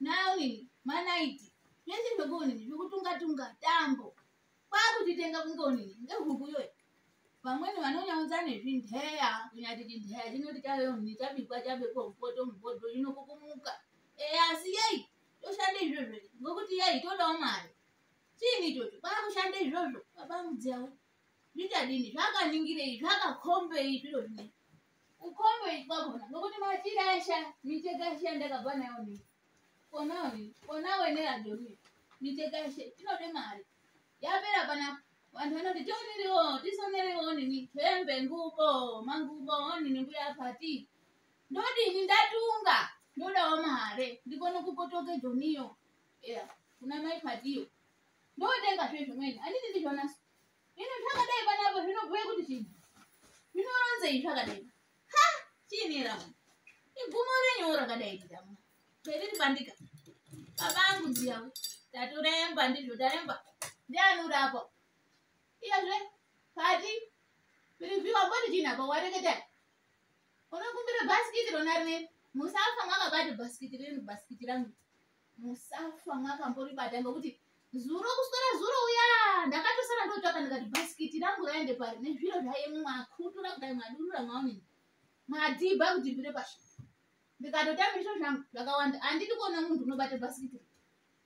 naonini manaiti zvese zvokuonini zvekutunga tunga tambo kwakutitenga kunge onini ngehuku yoyo vamweni vanonyaudza nezvindeya kunyati chindeya chinoti chaveonini chabikwa chabekwa mupoto mupoto inokukumuka eya asi yei toshanda izvozvo ngokuti yei todawo mari chiini ichocho kwakushanda izvozvo babamudziyawo zvichadini zvakaningirei zvakakombei zviro zvinei ukombo ikwakona nokuti machira asha micheka asha ndakabva nayo ni konawo ni konawo ine radio ni micheka asha inode mari yapera pana vanhu vanoti tioniriwo tisonerewo nini hembe ngubo mangubo onini mbuya pati ndodini ndatunga ndodawo mare ndikone kukotoke joniyo yeah. kuna mai patiyo ndotenga zve zvimweni anditi ndizvona Ino zvakadai panapo zvinobhuya kuti chii? Zvinoronzei zvakadai? Ha, chini ramo? Igumo renyu rakadai ramo. Periri bandika. Baba angu ndiyawo. Taturemba ndizvo taremba. Ndiani uri apo? Iyazve pati piriviwa kwati chini apo wareketa. Unokumbira bhasikiti rona rine musafa mwakabata bhasikiti renu bhasikiti rangu. musafa mwakamboribata ngokuti zuro kuswera zuro uya ndakatosara ndotsvaka ndikati bhasikiti rangu raende pari nezviro zvaye mwakutura kudai mwadurura mwaonini mwadhibha kuti bvire pashi ndikatotamba izvo zvangu zvakawanda handidi kuona munhu unobata bhasikiti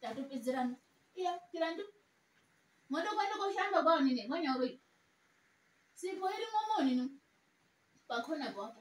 tatopedzerana iya tirandu motokwenda koshamba kwaonini mwanyauroi sipo irimo monini pakona kwapo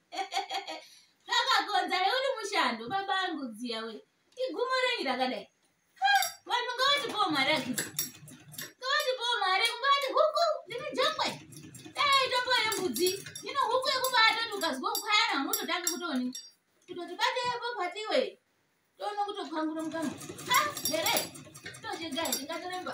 zvakakonza neuri mushando baba angu dziya we igumo renyi rakadai vanhu ngavatipowo mari akiti ngavatipowo mari kungati huku ndiri jongwe dai tombo yembudzi ino huku yekubata ti ukazwa kukwayana unototange kutoni kutoti batepo patiwe toona kutopangura mukambo ha here tochegai ndingatoremba